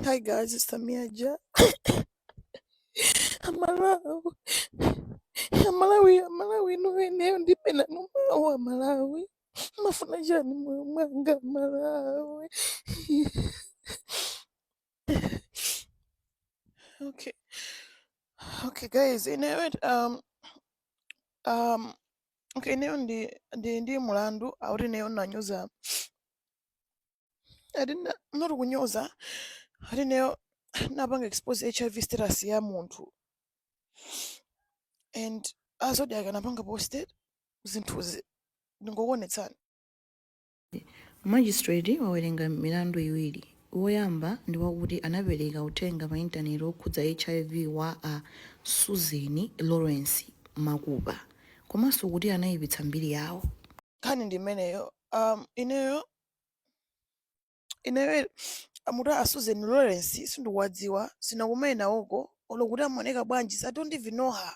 Hi guys, it's Tamia Ja. Amalawi, Amalawi, Amalawi, inu ineyo ndilibe nanu mawu Amalawi. Mafuna chani mmoyo mwanga Amalawi. Okay, okay guys, you know what? Um, um, okay, ineyo ndi ndi ndi mulandu akuti ineyo nanyoza Ati not kunyoza. Ati ineyo napanga expose hiv status ya munthu and a Zodiak anapanga posted zinthuzi ndingokuonetsani Magistrate wawerenga milandu iwiri. Woyamba ndi wakuti anapereka uthenga pa intaneti wokhudza hiv wa a Susan Lawrence Makupa komanso kuti anaipitsa mbiri yawo. nkhani ndi imeneyo um, ineyo ineyo amati a Susan Lawrence sindikuwadziwa sinakumane nawoko olo kuti amaoneka bwanji so I don't even know her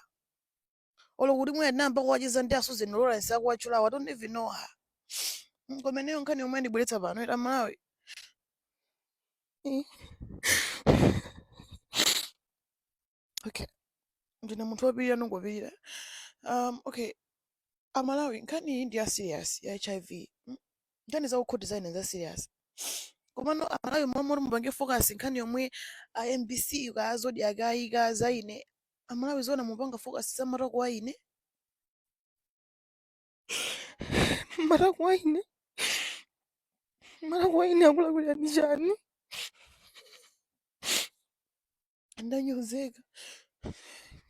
olo kuti mwina tinayamba kuwacheza ndi a Susan Lawrence akuwatchulawo I don't even know her Mm, koma ineyo nkhani yomwe yandibweretsa pano eti Amalawi okay ndine munthu wopirira ndingopirira um, okay amalawi nkhani iyi ndi ya serious ya hiv mm? nkhani za kukhoti za ine za serious komano amalawi mmalo moti mupange focus nkhani yomwe a mbc kaya a Zodiak ayika za ine amalawi zona mupanga focus za matako a ine matako a ine matako a ine akulakwirani chani ndanyozeka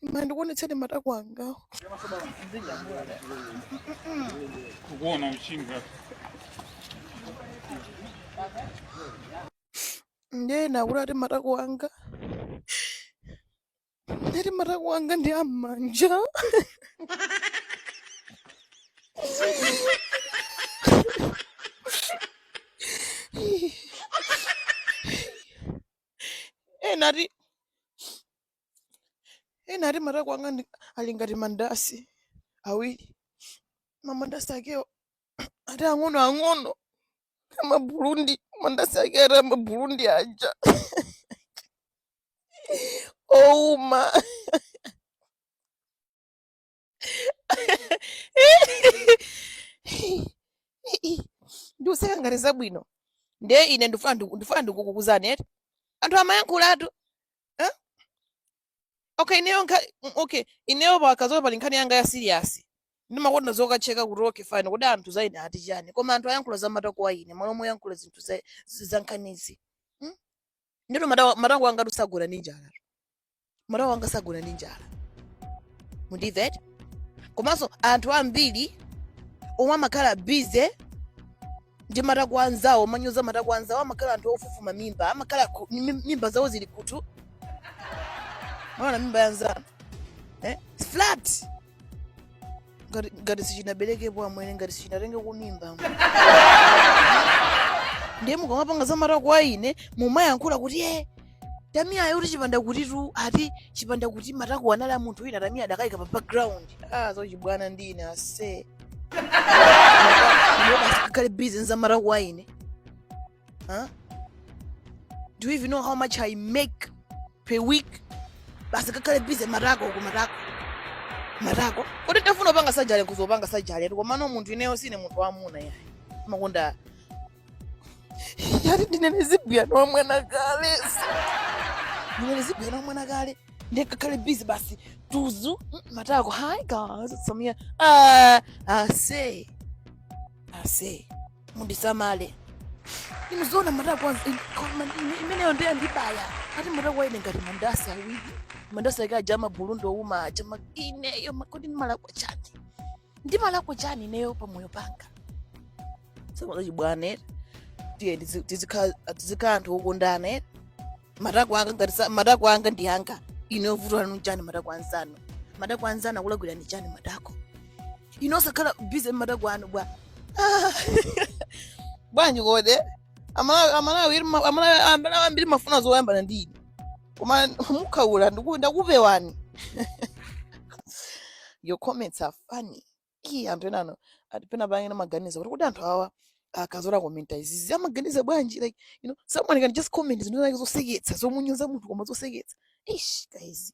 ima ndikuonetseni matako angawo kukuona uchinga ndiye ena akuti ati matako anga ati matako anga ndi a mmanja ena ati ena ati matako anga ndi- ali ngati mandasi awiri mamandasi akewo ati ang'ono ang'ono amabulundi mandasi ake ati amabulundi aja ouma ndikuseka ngati zabwino ndiye ine ndifuna ndiku- ndifuna ndikuuzeni eti anthu amayankhulatu eh? okay ineyo nkha mm, okay ineyo pakazola pali nkhani yanga ya siriyasi ndimakonda zokacheka kuti okay fine kodi anthu za ine ati chani koma anthu ayankhula za matako a ine malo moyankhula zinthu za, za nkhanizi hmm? ndipo mata- matako angatu sagona ndi njala matako anga sagona ndi njala mundimvetse komanso anthu ambiri omwe amakhala bize ndi matako anzawo amanyoza matako anzawo amakhala anthu ofufuma mimba amakhala ku- mim- mimba zawo zili kutu mwaona mimba yanzanu eh? flat ngati ngati sichinaberekepo amwene ngati sichinatenge kumimba ndiye mukamapanga za matako a ine mumayankhula kuti e tamiya ayo kuti chipanda kutitu ati chipanda kuti matako anali a munthu wina tamiya adakayika pa background ah zachibwana ndi ine asakhale bizi nza matako a ine Huh? Do you even know how much I make per week? Basi kakale busy matako ku matako. Matako. Kodi tafuna panga sajale kuzopanga sajale koma no munthu ineyo sine munthu wamuna yayi. Makonda. Yari ndinene zibwira no mwana kale. Ndinene zibwira no mwana kale. Ndekakale busy basi tuzu mm, matako. Hi guys, it's Samia. Uh, I say. I say. mundisamale inu zoona matako koma ine- imeneyo ndiye ndibaya ati matako a ine ngati mandasi awiri mandasi ake aja a maburundi ouma aja ma- ineyo ma- kodi ndimalakwa chani ndimalakwa chani ineyo pamoyo panga sama zachibwana ere tiye tizi- tizikha- tizikhala anthu okondana ere matako anga ngati sa- matako anga ndi anga ine vuto lanu chani matako anzanu matako anzanu akulakwirani chani matako a ine osakhala bize matako anu bwa Ah. bwanji kodi amalawi amalawi iri ma- amalawi amalawi ambiri amafuna zoyambana ndi ine koma mukhaula ndiku- ndakupewani your comments are funny ii anthu enanu ati pena pake amaganiza kuti kuti anthu awa akazola komenta izizi amaganiza bwanji like you know someone can just comment zinthu zake zoseketsa zomunyoza munthu koma zoseketsa ish guys